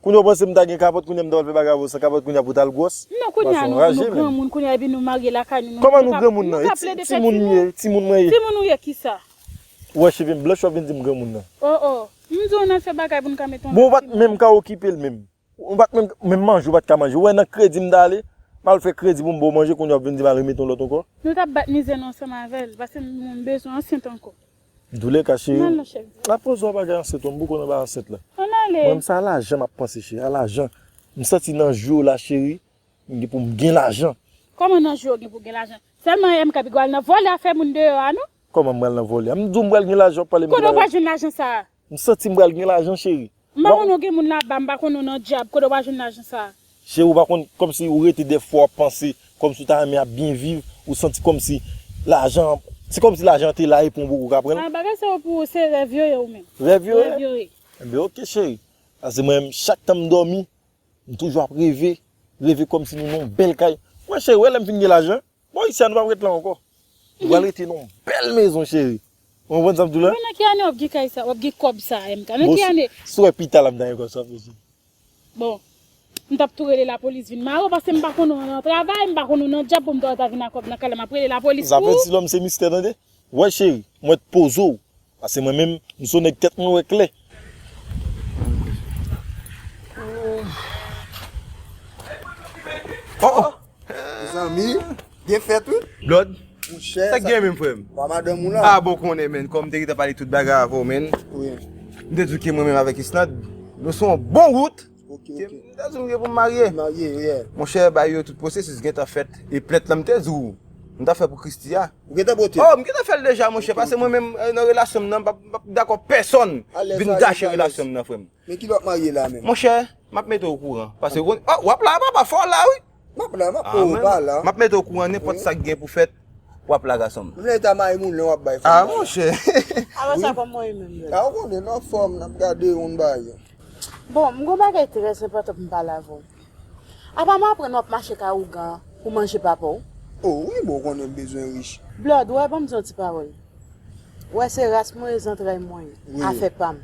Kounya ou panse m ta gen kapòt kounya m ta pral fè bagay avè w san kapòt kounya pou w ta al gwòs? Non kounya nou granmoun kounya epi nou marye lakay nou nou Kòman nou granmoun nan? E ti timoun m ye, timoun mwen ye. Timoun ou ye kisa? Ou wè cheve m blanch wap vin di m granmoun nan. Oh oh, m di w nan fè bagay pou n ka mete yon lòt timoun. Bon ou pat menm ka okipe l menm. Ou pat menm, menm manje ou pat ka manje. Ou wè nan kredi m ta ale, m al fè kredi pou m ba w manje kounya wap vin di m al remèt yon lòt ankò? Nou tap bat mizè nou ansanm avè l paske m bezwen ansent ankò. Douleka cheri m ap pran swen bagay ansent lan m poko nan bagay ansent lan mwen menm se a lajan m ap panse cheri a lajan m santi nan jou yo la cheri m gen pou m gen lajan. Kòman nan jou yo gen pou w gen lajan sèlman MK pi gwa al nan vòlè afè moun deyò a non. Kòman m pral nan vòlè a m di w m pral gen lajan wap pale m gen bagay. Kote w pral jwenn lajan sa a M santim pral gen lajan cheri. M pa konn ou gen moun laba m pa konn ou nan dyab kote wa jwenn lajan sa. Cheri ou pa konn kòmsi ou rete dèfwa wap panse kòmsi ou ta renmen ap byen viv ou santi kòmsi lajan an se kòmsi lajan an te la epi ou poko ka pranl. Ah bagay sa yo pou ou se rèv yo ye ou menm. Rèv yo ye? Rèv yo ye. Enben ok cheri. Pase mwen menm chak tan m dòmi m toujou ap reve, reve kòmsi nou nan yon bèl kay. Mwen cheri ou wè lèm fin gen lajan. Bon Isia nou pap ret la ankò. Nou pral rete nan yon bèl mezon cheri. Ou konprann sa m di w la? Bon nan ki ane wap gen kay sa, wap gen kòb sa MK? Nan ki ane? Bon si w wè pita la m ta gen kòb sa pou di. Bon M tap tou rele lapolis vin mare w paske m pa konnen w nan travay, m pa konnen w nan dyab pou m ta wè w ta vin ak kòb nan kay la map rele lapolis pou ou. Zafè ti lòm se mistè tande. Wè cheri, mwen t poze w Pase mwen menm m so neg tet mwen we kle. Oh oh Mezanmi gen fet wi. Blod Sa k gen menm frem? Ah bon konnen menn kom m te gentan pale tout bagay avèw menn. M te diw ke mwen menm avèk Isnad nou sou yon bon wout. Ok ok. M ta di w m gen pou m marye. Marye yeah. Monchè bagay yo tout pwosesis gentan fèt e plent lan m te di w m ta fè pou Christie a. Ou gentan pote? Oh m gentan fè l deja monchè pase mwen menm nan relasyon m nan m pap dakò pèsòn vin gache relasyon m nan frè m. Men kilè w ap marye la menm? Monchè m ap mete w okouran pase ou konn oh w ap la papa fò w la wi. Map la map ou pa la. Map mete w kouran nenpot sak gen pou fet wap la gasonm. M nan eta maimoun lè wap bay fanm bagay. Ah monchè. Alon sa kom mwen menm menm. Ah ou konnen nou ap fom nap gade youn ba yon. Bon m gon bagay tres enpotan pou m pale avè w. Apa m aprann wap mache kay ougan pou manje papa w. Oh wi bon ou konnen m bezwen rich. Blood ou wè banm di yon ti pawol. Ou wè se ras mwen e zantray mwen. Afè pam.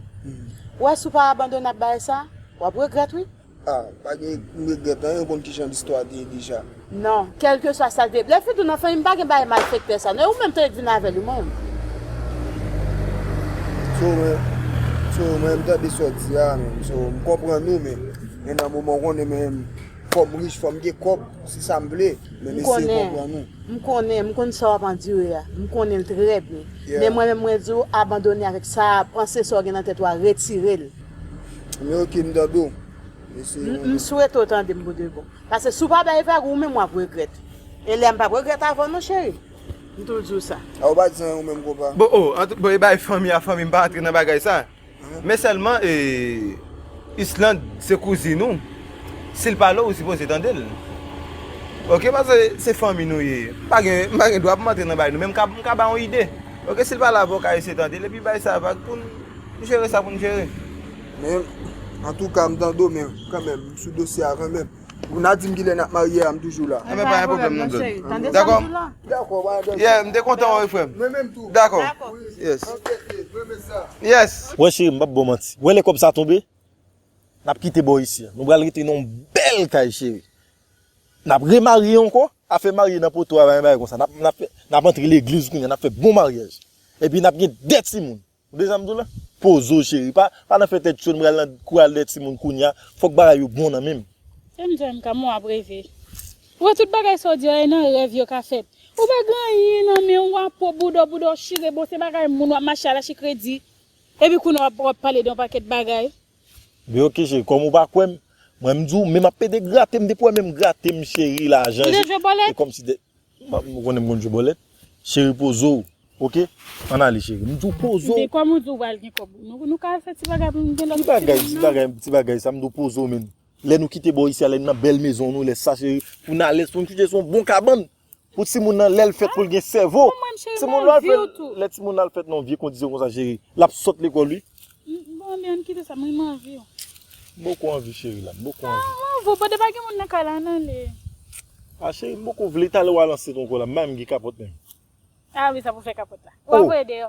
Ou wè si w pa abandone ak bagay sa wap regret wi. A, pa gen regrèt anyen, ou konn ki jan listwa te ye deja. Non, kèlkeswa sa l te ye. Lè Fedou nan fanmi m pa gen bagay malfektè sa non, e ou menm tou e k vin avè l ou menm. So, mwen, so, mwen m tande sa w di a menm, so, m konprann ou men, men nan moman ou konnen menm fò m rich, fò m gen kòb, se sa m vle, men m eseye konprann ou. M konnen, m konn sa w ap andire a, m konnen l trè byen. Men mwen menm mwen di w abandone avèk sa a, panse sa w gen nan tèt ou a retire l. Milky m tande w. M swete w tande m pou de bon. Pase si w pa bay vag ou menm w ap regrèt. E lè m p ap regrèt avan w non cheri. M toujou di w sa. A ou pa di anyen ou menm konpa. Bon o antou bon e bay fanmi a fanmi m pa antre nan bagay sa. Men sèlman e Islande se kouzin ou. Si l pale w ou sipoze tande l. Ok pase se fanmi nou ye. M pa gen dwa pou m antre nan bagay nou men m ka ba w yon ide. Ok sil pale avèw ka eseye tandel epi bay sa vag poun jere sa poun jere. Men antouka m tande w men kanmenm m sou dosye a kanmenm. Ou na dim kilè nap marye a m toujou la. Enben pa gen pwoblèm nou 2. Dakò? Dakò pa gen danje. Yeah m te kontan wè w wi frè m. Mwen menm tou. Dakò. Yes. Ok kkte m renmen sa. Yes. Wè cheri m pap baw manti. Wè lè kòb sa tonbe nap kite bò isi an. Nou pral rete nan yon bèl kay cheri. Nap re marye ankò, afè marye nan poto a pa gen bagay konsa, nap antre legliz kounya nap fè bon maryaj, epi nap gen 2 timoun, ou de sam diw la, poze w cheri pa nan fè tèt cho m pral nan kou al 2 timoun kounya, fòk bagay yo bon nan menm. Sèm joinm ka m wap reve. Ou wè tout bagay sa w di yo e nan rèv yo ka fèt. Ou pa gen anyen nan men w wap po bouda w bouda w chire bon se bagay moun wap mache al ache kredi epi kounya wap pale de yon pakèt bagay. Beokeje kòm ou pa kwèm mwen m di w men map pede grate m depi wè menm grate m cheri lajan je e kòm si de m konnen m konn jwe bòlèt cheri poze w ok ann ale cheri m di w poze w men kòm ou di w pral gen kòb nou ka fè ti bagay pou m gen lòt ti bagay nan ki bagay ti bagay sa m di w poze w menn lè nou kite bò isi a lè n nan bèl mezon nou lè sa cheri pou n alèz pou n kouche sou yon bon kabann Pou timoun nan lèl fèt poul gen sèvo timoun lòl fèt lè timoun nan fèt nan vye kondisyon konsa cheri lap sòt lekòl wi. Bon anmyy ann kite sa mwen man viw. M poko anvi cheri la m poko anvi. Ah m'en vo bode pa gen moun nan kay la ann ale. Ah cheri m poko vle talè wa lanse t ankò la m bay m gen kapòt menm. Ah wi sa pou fè kapòt la. Wa voye deyò.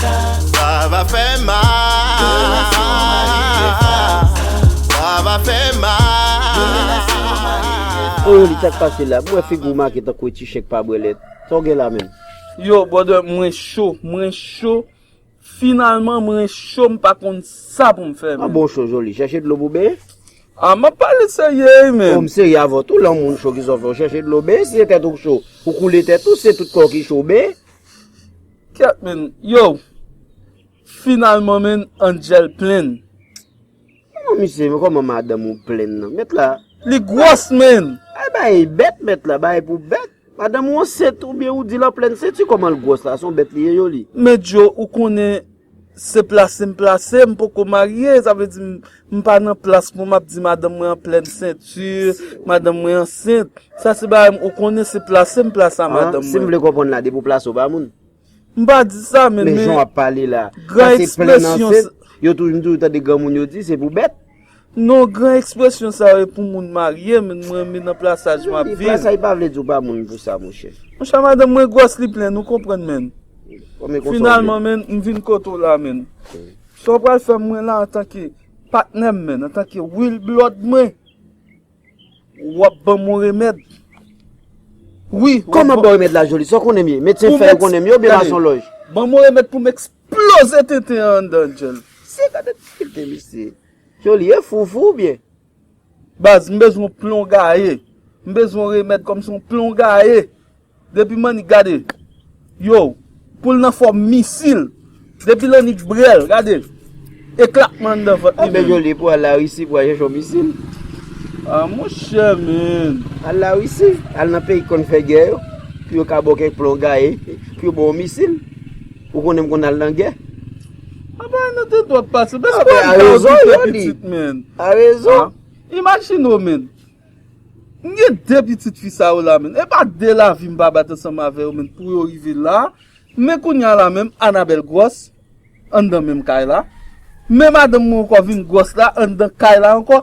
Sa va fè mal. Oh Yoly sak pase la? M wè figi w make tankou e ti chen k pa bwè lèt. Sa w gen la menm? Yow brother mwen cho mwen cho finalman mwen cho m pa konn sa pou m fè menm. An bon w cho Joly? Chèche dlo pou w benyen? Ah m ap pale serye wi menm. Oh m serye avè w tou lè yon moun cho kisa w fè? W chèche dlo w benyen? Si se tèt ou k cho ou koule tèt ou, si se tout kò w ki cho w benyen? Kèt menn yow finalman menn angel plenn. Koman misye koman madanm ou plenn nan met la. Li gwòs menn. Al bay bèt met la bay pou bèt. Madanm ou ansent ou byen ou di lan plenn se tu koman l gwòs la son bèt li ye yo li. Medjo ou konnen se plase m plase m poko marye sa vle di m M pa nan plas mwen m ap di madanm mwen an plèn senti, madanm mwen ansent. Sa se bagay m ou konnen se plase m plase a madanm mwen. Si m vle konprann la depi w plase w ba moun? M pa di sa men men. Men jan w ap pale la. Sa se plèn ansent. Yo toujou m toujou tande granmoun yo di se pou bèt. Non gran ekspresyon sa yo e pou moun marye men mwen men nan plasaj m ap viv. Plasaj pa vle di w ba moun pou sa monchè. Monchè madanm mwen gwòs li plen ou konprann menn. Finalman menn m vin kote w la menn. Sa w pral fè mwen la antanke patnè m menn, antanke Wil Blòd mwen? W ap ban m yon remèd. Wi, w ap ban. Kòman ban w remèd la, Joli? Sa w konnen m ye? Medsen fè yo konnen m ye oubyen masonlòj? Gade, ban m yon remèd pou m eksploze tenten an anndan djèl. Se gade difikilte misye. Joli, e fou ou fou oubyen? Baz m bezwen yon plon gaye. M bezwen yon remèd kòm se yon plon gaye. Depi Mannik gade. Yow. Pou l nan fòm misil. Depi Lannik brèl. Gade. Eklatman anndan vant li menm. Ape Joly pou al Larisi pou al chèche yon misil. A mon chè menn. Al Larisi. Al nan peyi ki konn fè gè yo. Pou yo ka ba w kèk plon gaye. Pou yo ba w yon misil. Ou konnen m konn al nan gè. Anba nou te dwòp pase. Bèk apè a rezon yo li. A rezon. Imajine ou men. M gen 2 pitit fi sa yo la men. E pa 2 lavi m pa bat ansanm avè yo men pou yo rive la. Men kounya la menm Anabèl gwòs. Anndan menm kay la. Men madanm mwen ankò vin gwòs la anndan kay la ankò.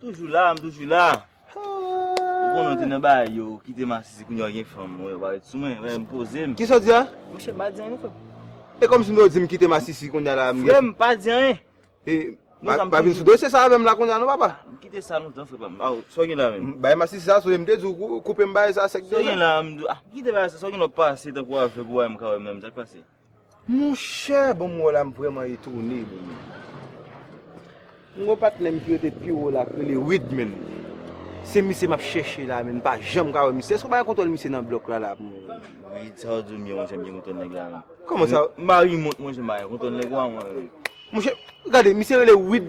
Toujou la, m toujou la. Ou konnen ou te nan bagay yo, ou kite masisi kounye a ou gen fanm, ou wè ou pa ret sou mwen, wè m poze m. Kisa w di a? Monchè m pa di anyen frè m. E kòm si m te w di m kite masisi kounye a la m gen. Frè m pa di anyen. E pa vin sou dosye sa avè m la kounye a non papa. M kite sa lontan frè pa m. Aw, sa w gen la menm? Bagay masisi sa sonje m te di w koupe m bagay sa sèk. Sa w gen la menm? Kite bagay sa, sa w gen la w pase tankou avèg ou wè m ka wè menm, sa k pase? Monchè bon m wè w la m vrèman etone bon m gen yon patnè m ki rete pi wo la ki rele Wid menm se misye m ap chèche la menm m pa janm ka wè misye èske w pa gen kontwòl misye nan blòk la la pou mwen menm. Wid sa w di w m ye monchè m gen kontwòl nèg la menm. Kòman sa? Marye mont monchè m pa gen kontwòl nèg ou a mwen menm. Monchè gade misye rele Wid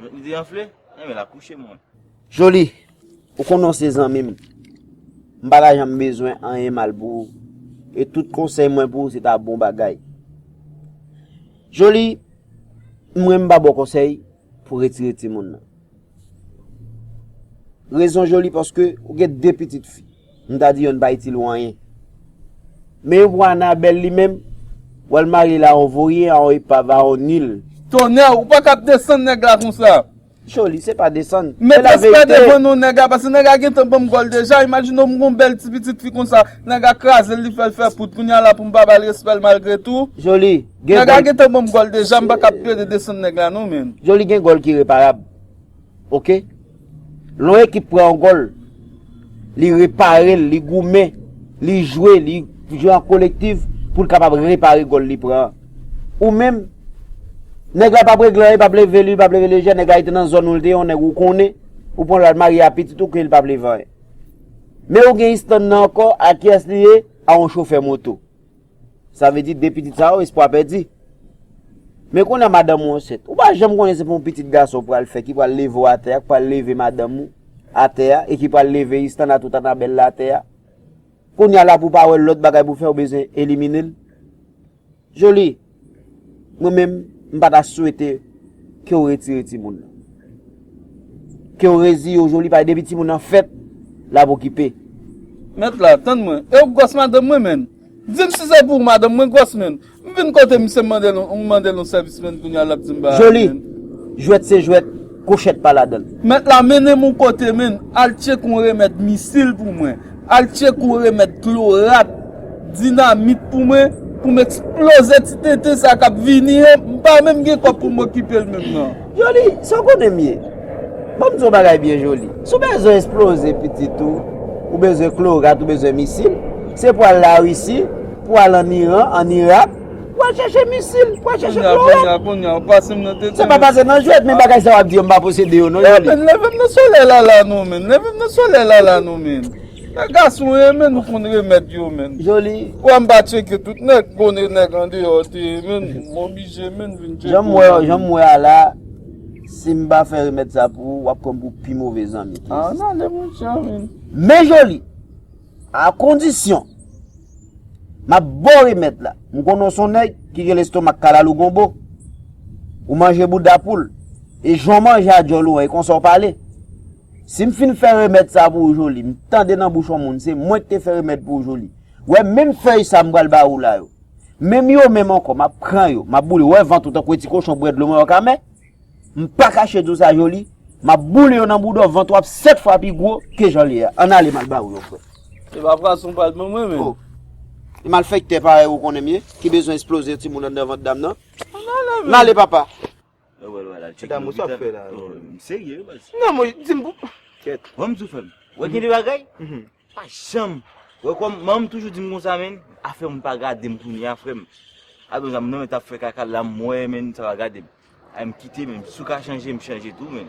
M di anfle, enben l ap kouche mwen. Joli, ou konnen w se zanmi m. M pa ta janm bezwen anyen mal pou ou. E tout konsèy mwen pou ou se ta bon bagay. Joli, mwen m pa ba w konsèy pou w retire timoun nan. Rezon Joli paske ou gen 2 pitit fi. M ta di yo n pa itil ou anyen. Men pou Anabelle li menm, wa l marye la on voryen, a on epav, a on nil. Tonnè ou paka ap desann nèg la konsa. Joly, se pa desann, se la verite. Met respè devan non nèg la, paske nèg la gentan banm gòl deja, imajine w m gon bèl ti pitit fi konsa, nèg la krazel li fèl fè poud, kounya la poum pa bal respèl malgre tou. Joly, gen gòl. Nèg la gentan banm gòl deja, m paka ap plede desann nèg la non menn. Joly gen gòl ki reparab. Ok Lon ekip pran yon gòl li reparel li goumen li jwe li jwe an kolektiv poul kapab repare gòl li pran an ou menm nèg la pap regle anyen li pap leve li pap leve lejè nèg la li te nan zòn ou li te yon nèg ou konnen ou pran lal marye a pitit ou ke li pap leve anyen men ou gen Istan nan ankò a kiyès li ye a yon chofè moto. Sa vle di 2 pitit sa yo espwa pèdi. Men kounye a madanm ou ansent. Ou pa janm konnen se pou yon pitit gason ou pral fè ki pral leve ou atè a, ki pral leve madanm ou atè a e ki pral leve Istan a tout Anabèl la atè a. Kounye a la pou pa wè lòt bagay pou fè ou bezwen elimine l. Joly, mwen menm m pa ta swete ke ou retire timoun nan. Ke ou reziye ou Joly paske depi timoun nan fèt l ap okipe. Mèt la, tann mwen. E ou gwòs madanm mwen menm? Dim si se pou madanm mwen gwòs menn. M vin kote misye m mandel m mandel yon sèvis menn kounya lap dim bagay menn. Joly, jwèt se jwèt, kwochèt pa ladanl. Mèt la mennenm yon kote menn, al tchek yon remèd misil pou mwen, al tchek yon remèd klorat, dinamit pou mwen, poum eksploze ti tenten sa kap vini an, m pa menm gen kòb poum okipel menm nan. Joly, sa w konnen m ye? Ban m di w yon bagay byen Joly, si w bezwen esploze pitit ou, ou bezwen klorat, ou bezwen misil, se pou w al Larisi, pou w al an Iran, an Irak, pou w al chache misil, pou w al chache klorat. Kounye a, kounye a, kounye a, w pase m nan tete. Se pa pase m nan jwèt, men bagay sa w ap di yo m pa posede yo non Joly. Leve m nan solèy lala nou menm, leve m nan solèy lala nou menm. Nèg gason ye menn nou konn remèd yo menn. Joly. Wè m pa tcheke tout nèg bone nèg andeyò te ye menn m oblije menn vin tcheke. Janm wè w janm wè a la si m pa fè remèd sa pou ou wap pran m pou pi move zanmi. A an ale mon chè menn. Men Joly a kondisyon map baw remèd la m konnen w son nèg ki gen lestomak kalalou gonbo ou manje bouda poul e jan w manje a djòl ou an e konsa w pale. Si m fin fè remèd sa pou ou Joly, m tande nan bouch yon moun se mwen ki te fè remèd pou ou Joly. Wè menm fèy sa m pral ba ou la yo. Menm yo menm ankò, m ap pran yo, m ap boule. Wè vant ou tankou yon ti kochon bwè dlo m wè wap ka mè. M pa kache di w sa Joly, m ap boule yo nan bouda w, vant ou ap 7 fwa pi gwo ke jan li ye a. Ann ale m al ba ou yo frè. Se pa fason w pral ban mwen menm. Oh! E malfèktè parèy ou konnen m ye, ki bezwen esploze yon timoun anndan vant dam nan. Ann ale menm. Ann ale papa. Edam ou sa ap fè la? M serye wi baz. Nan mwen di m pou. Kyèt. Wè m di w frè m. Wè gen de bagay. Pa janm. Wè kòm manman m toujou di m konsa menn. Afè moun pa gade m kounye a frè m. A donzè m nan men t ap fè kaka la m wè menn sa pa gade m. Ay m kite menn. Si w ka chanje m chanje tou menn.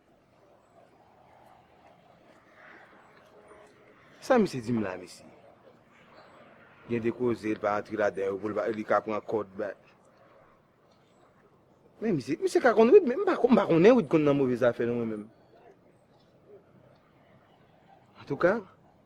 Sa misye dim la mesye. Gen de koze l pa antre ladan yo pou li ka pran kòd ba. Men misye, misye ka konn Wid men m pa m pa konnen Wid konn nan move zafè non mwen menm. Antouka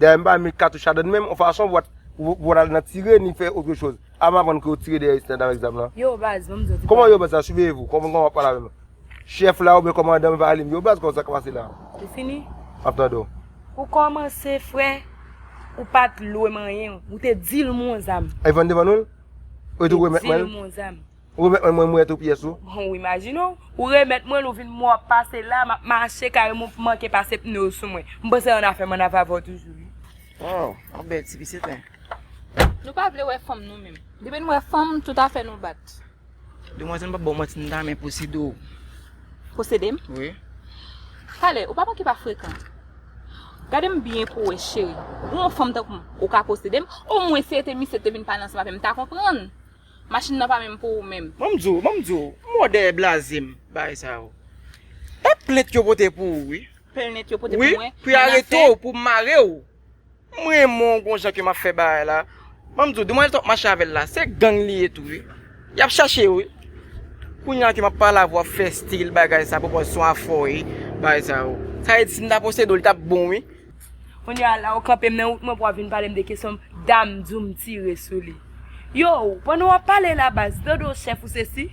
Dayè m pa renmen katouch la dan menm on fason pou w ta al nan tire ni fè otre choz. A m aprann ke yo tire dèyè Isnèt avèk zam lan. Yo baz, ban m di w ti bagay. Kòman yo baz sa siveye vou? Kòman w ap pale avè m la? Chèf la oubyen kòmandan m va rele m yo baz kòman sa k ap pase la? Ou fini? M ap tande w. Ou kòmanse frè, ou pa t lwe manyen w. Ou te di l m on zam. Evan te ban nou l? Ou te remèt mwen l? Ou te di l m on zam. Ou remèt mwen l mwen mret ou pyès ou. Hon w imajine w, ou remèt mwen l ou vin mwen w ap pase la, m ap mache kare mwen w p manke pase pne w sou mwen. M panse annafè m annafè avè w toujou wi. Waw, ou bèl ti pitit men. Nou pa vle wè fanm nou menm. Depi n wè fanm, tout afè nou bat. Demwazèl m p ap ba w manti m ta renmen posede w. Posede m? Wi. Pale, ou pa manke pa frekan. Gade m byen pou w wè cheri, ou yon fanm tankou m, ou ka posede m? Omwen si e te misye k te vin pale ansanm avè m, m ta konprann. Machin nan pa menm pou ou menm. Banm di w, banm di w, mo dèyè blaze m bagay sa yo. E plent yo pote pou ou wi. Plent yo pote pou mwen. Wi, pou y arete w, pou mare w. M renmen w gon jan ke m ap fè bagay la. Banm di w, demwazèl t ap mache avè l la, se gang li ye tou wi. Y ap chache yo wi. Kounye a ke m ap pale avè w ap fè stil bagay sa pou w panse se yon afè w ye, bagay sa yo. Sa vle di si m ta posede w li t ap bon wi. Kounye a la ou kanpe m nan wout mwen pou w ap vin pale m de kesyon m, dam di w m tire sou li. Yow, pandan w ap pale la baz, Dodo chèf ou se si.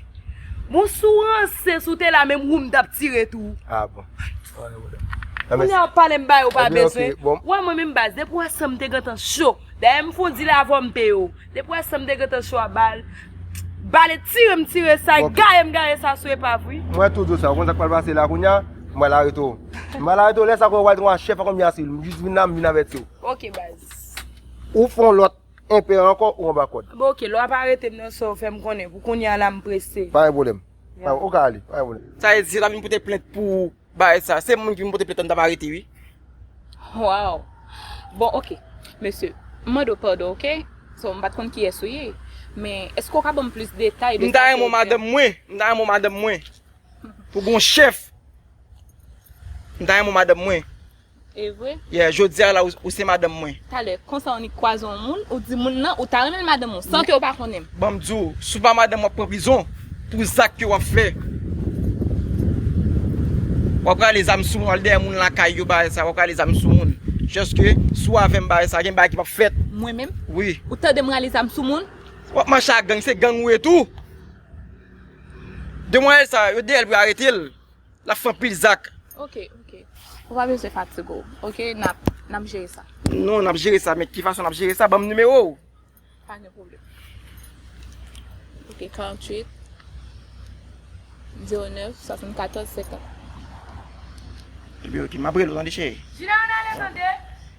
Bon si w ranse, si w te la menm wou m t ap tire tou. Ah bon. Kounye a w ap pale m bagay ou pa bezwen. Ou wè mwen menm baz, depi w wè san m te gentan cho. Dayè m fon di l avè w m peye w. Depi wè sam te gentan cho a bal Bale tire m tire sa gaye m gaye sa sou epav wi. Mwen tou diw sa ou konn sak pral pase la kounya m pral arete w m pral arete w lè sa konnen ou pral gen yon chèf ak yon miya sivil m jis vin la m vin avèti w. Ok baz. Ou fè yon lòt enpè ankò ou anba kòd. Bon ok lè wap arete m nan sèw fèm konnen pou kounya la m prese. Pa gen pwoblèm ou ka ale pa gen pwoblèm. Sa vle di se la vin pote plent pou ou. Bagay sa, se moun ki vin pote plent lan m tap arete wi. Waww bon ok mesye m mande w padon ok so m pat konn kiyès ou ye men èske w ka banm plis detay de sa ke ou fè. M ta renmen w madanm mwen, m ta renmen w madanm mwen pou gon chèf m ta renmen w madanm mwen. Evre? Yeah, jodia la ou se madanm mwen. Talè, konsa ou nik kwaze yon moun, ou di moun nan ou ta renmen l madanm ou, san ke ou pa konnen m. Ban m di w, si w pa madanm w ap pran prizon pou zak ke w ap fè. W ap rale zam sou moun, w al dèyè moun lakay yo bagay sa, w ap rale zam sou moun. Just ke, si w avè m bagay sa, gen bagay ki p ap fèt. Mwen menm? Wi. Ou tande m rale zam sou moun? W ap mache ak gang, se gang ou ye tou. Demwazèl sa, yo dèyè l pou yo arete l. Lap fè anpil zak. Ok ok ou pa bezwen fatig ou ok nap nap jere sa. Non nap jere sa men ki fason nap jere sa banm nimewo ou. Pa gen pwoblèm ok 48 09 74 50. Ebyen ok map rele ou tande cheri. Jina ann ale tande.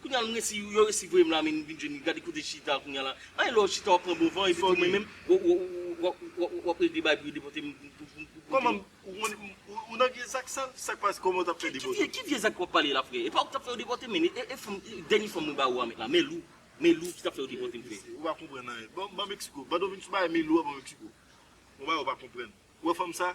Kounya m resi yo resi voyem la min vin jwenn gade kote chita kounya la anyen lè w chita wap pran bon van epi tou mwen menm wap regle bay pou yo depòte m pou m pou kote m Ou nan vye zak sa sak pase kòman w tap fè depòte. Ki vye zak wap pale la frè epa ou ki tap fè yo depòte m men e fanm dènye fanm mwen ba ou a met la melou melou ki tap fè yo depòte m frè. Ou pa konprann anyen. Ban Mexico. Ban do vin sou bagay Melou a ban Mexico. Yon bagay ou pa konprann. Ou wè fanm sa?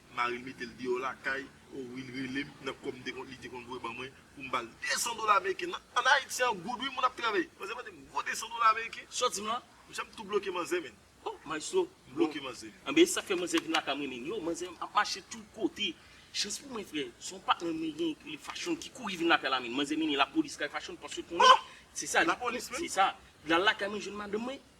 Maril metel deyò lakay oh wi li relem nan kòm te konn li te konn voye ban mwen poum bal 200 dola ameriken nan an ayiti an goud wi moun ap travay manzè mandem gwo 200 dola ameriken sòtim la mnchè mtou bloke manzè menn oh maestro mbloke manzè. Anben esak fè manzè vin lakay mwen menn yo manzè ap mache tout kote chans pou mwen frè son patnè mwen gen pou li fashion ki kouri vin lakay la menn manzè mennen lapolis kay fashion paske konnen sesa li konnen sesa lal lakay mwen jwenn madanm mwen.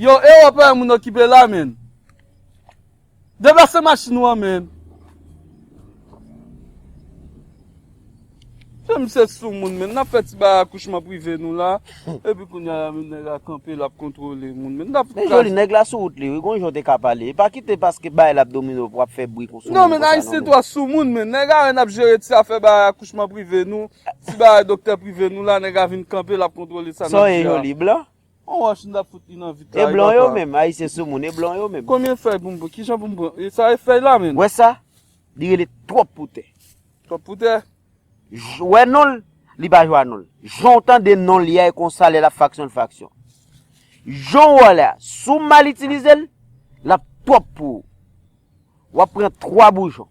Yo eropean moun okipe la menn. Deplase machin ou an menn. Jan misye sou moun menn. Nap fè ti bagay akouchman prive nou la. Epi kounya la menm nèg la kanpe lap kontrole moun menn. Nap fè. Men joli nèg la sou wout li wi. Gon jan w te ka pale. Epa kite paske bay la abdomino pou ap fè bri kon sou moun konsa non menn. Non men ayisyen tro sou moun menn. Nèg la wè nap jere ti afè bagay akouchman prive nou. Ti bagay doktè prive nou la nèg la vin kanpe lap kontrole sa nap di a. Sa w ye joli blan? On wòch nou tap fout li nan vit la. E blan yo menm, ayisyen sou moun, e blan yo menm. Konbyen fèy pou m pran? Kijan pou m pran? E sa e fèy la menm? Wè sa? Li rele twòp pou tè. Twòp pou tè? Ou wè non l? Li pa jwa non l. Jan w tande non l ya e konsa lè l ap fraksyon l fraksyon. Jan w wè l la, si w mal itilize l, l ap twòp pou ou. W ap pran twa boujon.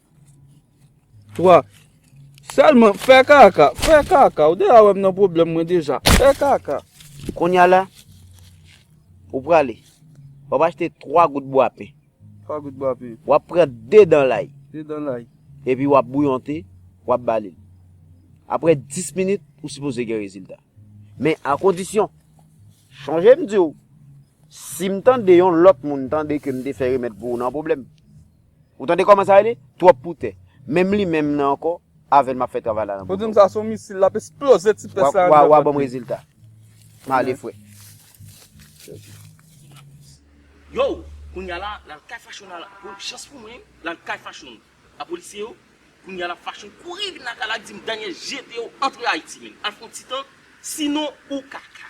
3. Sèlman fè kaka, fè kaka. Ou deja wèm nan pwoblèm mwen deja. Fè kaka. Konya la, ou prale. Wap achte 3 gout bwa pen. 3 gout bwa pen. Wap pran 2 dan lay. 2 dan lay. Epi wap bouyonte, wap bale. Apre 10 minit, ou sipoze gen rezilta. Men a kondisyon, chanje m diw, si m tande yon lòt moun tande ke m te fè remèd pou ou nan pwoblèm. Ou tande koman sa rele? Twop pou tè. Menm li menm nan anko avel map fe travay la nan boudaw. Ou dim sa son misil lap esploze ti pes la andedan vant li. Wa banm rezilta. Male fwe. Yow! Kounya la lal kay fashion a la pou chans pou mwen lal kay fashion a polisye yo kounya la fashion kouri vin lakay la dim Daniel jetew antre ayiti menn al fon ti tan sinon ou kaka.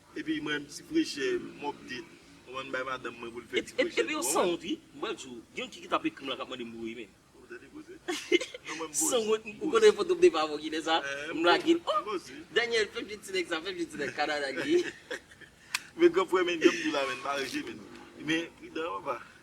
Epi mwen renmn ti prechè mop de ou konn bay madanm mwen poul fè ti prechè tou. Epi yo sanwont wi m pral diw gen yon ti ki tap ekrim la kap mande m voye men. Ou tande koze. Non mwen m boz. Sanwont m ou konnen foto m te pavo kilè sa m lagel oh. M boz wi. Daniel fem jwenn ti nèg sa fem jwenn ti nèg Canada li ye. Men gran frè men janm diw la men pa rejte men. Men pridan papa.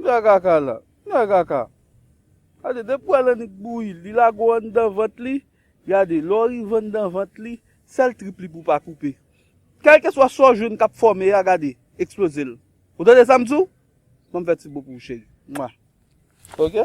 Nèg kaka la. Nèg kaka. Gade de pwèl annik bouyi li lago anndan vant li gade lè w rive anndan vant li sèl trip li pou w pa koupe kèlkeswa sa w jwenn kap fòme a gade eksploze l ou tande sa m di w banm fè ti bo pou w cheri mwah ok.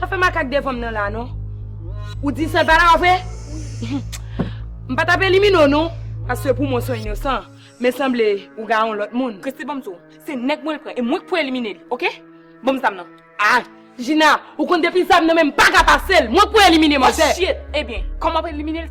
Pa fè makak devanm nan la non. Ou di sèl pala a vre? M pa tap elimine w non, paske pou mwen w son inosan, men sanble ou gaye yon lòt moun. Prese banm di w, se nèg mwen l pran e mwen k pou elimine li ok. Banm zam nan. A! Jina, ou konn depi zam nan menm m paka pase l, mwen k pou elimine manzè. Oh shit! Ebyen, kòman w ap elimine l?